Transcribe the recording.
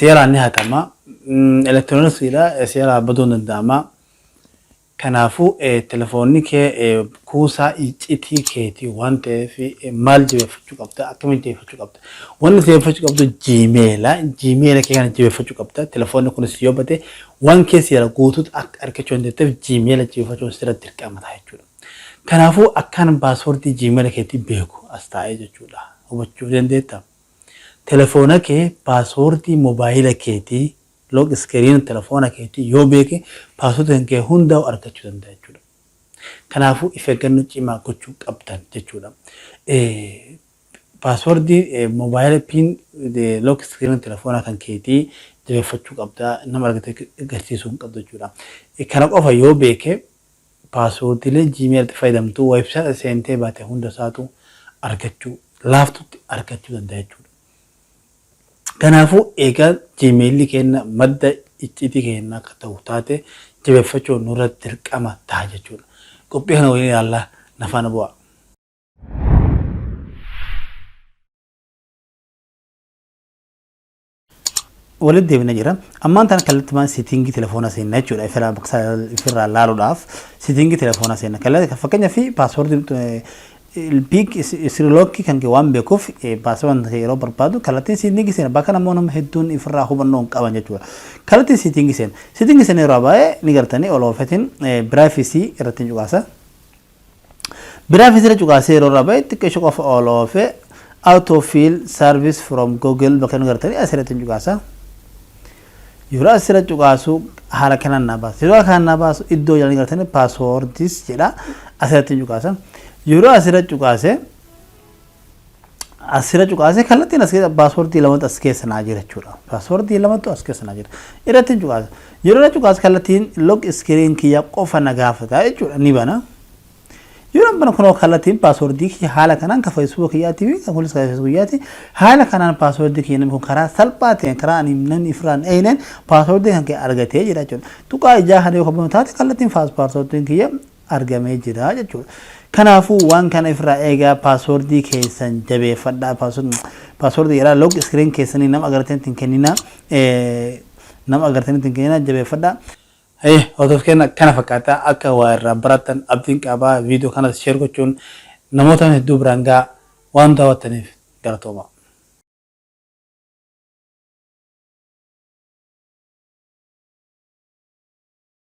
seeraan ni hatama. Elektirooniksiidha seeraa baduun danda'ama. Kanaafuu telefoonni kee kuusaa iccitii keetii waan ta'eef maal jabeeffachuu qabda? Akkamiin jabeeffachuu qabda? Wanni jabeeffachuu qabdu jiimeela. Jiimeela kee kana jabeeffachuu qabda. Telefoonni kunis yoo bade waan keessa jira guutuutu akka argachuu dandeetteef jiimeela jabeeffachuun sirra dirqama ta'a jechuudha. Kanaafuu akkaan baaswordii jiimeela keetii beeku as taa'ee jechuudha. Hubachuu dandeetta. Telefoona kee paaswoordii mobaayila keetii, lock screen, telefoona keetii yoo beeke paaswoordiin kee hundaa'u argachuu danda'a jechuudha. Kanaafuu if eeggannoo cimaa gochuu qabdan jechuudha. Paaswoordii mobaayila pin lock screen telefoona kan keetii jabeeffachuu qabda. Nama argite agarsiisuu hin qabdu jechuudha. Kana qofa yoo beeke Paaswoordiilee Gmail tti fayyadamtu website seentee baate hunda isaatu argachuu laaftutti argachuu danda'a jechuudha. Kanaafuu eegaa Gmail keenna madda icciitii keennaa akka ta'u taate jabeeffachuun nurra dirqama ta'a jechuudha. Qophii kana waliin ilaallaa na faana bu'aa. walitti deebina jira. Ammaan tana kallattumaan seetiingii telefoona seenna jechuudha. Ifirraa bakka ifirraa laaluudhaaf seetiingii telefoona seenna. Kalla- Fakkeenya fi paaswoordii piik isirilookii kan kee waan beekuuf paaswoordii kee yeroo barbaadu kallattiin seetiingii seenna. Bakka namoonni nama hedduun ifirraa hubannoo hin qaban jechuudha. Kallattiin seetiingii seenna. Seetiingii seenna yeroo baay'ee ni gartanii ol oofetiin biraayifisii irratti hin cuqaasa. Biraa fitira cuqaasee yeroo irraa ba'e xiqqeesho qofa ol oofe autofill service from google bakka inni gartanii asirratti cuqaasa. Yeroo asirra cuqaasu haala kanaan naa baasa. Yeroo kanaan naa baasu iddoo jalanii gartanii passwords jedha asirratti cuqaasa. Yeroo asirra cuqaase asirra cuqaasee kallattiin as keessa paaswordii lamatu as keessa naa jira jechuudha. Paaswordii lamatu as keessa naa jira. Irratti cuqaasa. Yeroo irra cuqaasa kallattiin log iskiriin kiyya qofa na gaafata jechuudha ni bana. Yeroo bana kunoo kallattiin paaswordii kiyya haala kanaan ka feesbuuka kiyyaatti fi kunis ka feesbuuka kiyyaatti haala kanaan paaswordii kiyya namni kun karaa salphaa ta'een karaa ani namni ifirraa hin eegneen paaswordii kan kiyya argatee jira jechuudha. Tuqaa ijaa kana yoo kabamu taate kallattiin paaswordiin kiyya argamee jira jechuudha. Kanaafuu waan kana ifirraa eegaa paaswordii keessan jabeeffadhaa. Paaswordii irraa log screen keessanii nama agartanitti hin kenninaa. Nama agartanitti hin kenninaa jabeeffadhaa. Haye hordoof keenya kana fakkaata akka waa irraa barattan abdiin qaba viidiyoo kanas sheer gochuun namoota hedduu biraan ga'a waan daawwattaniif galatoomaa.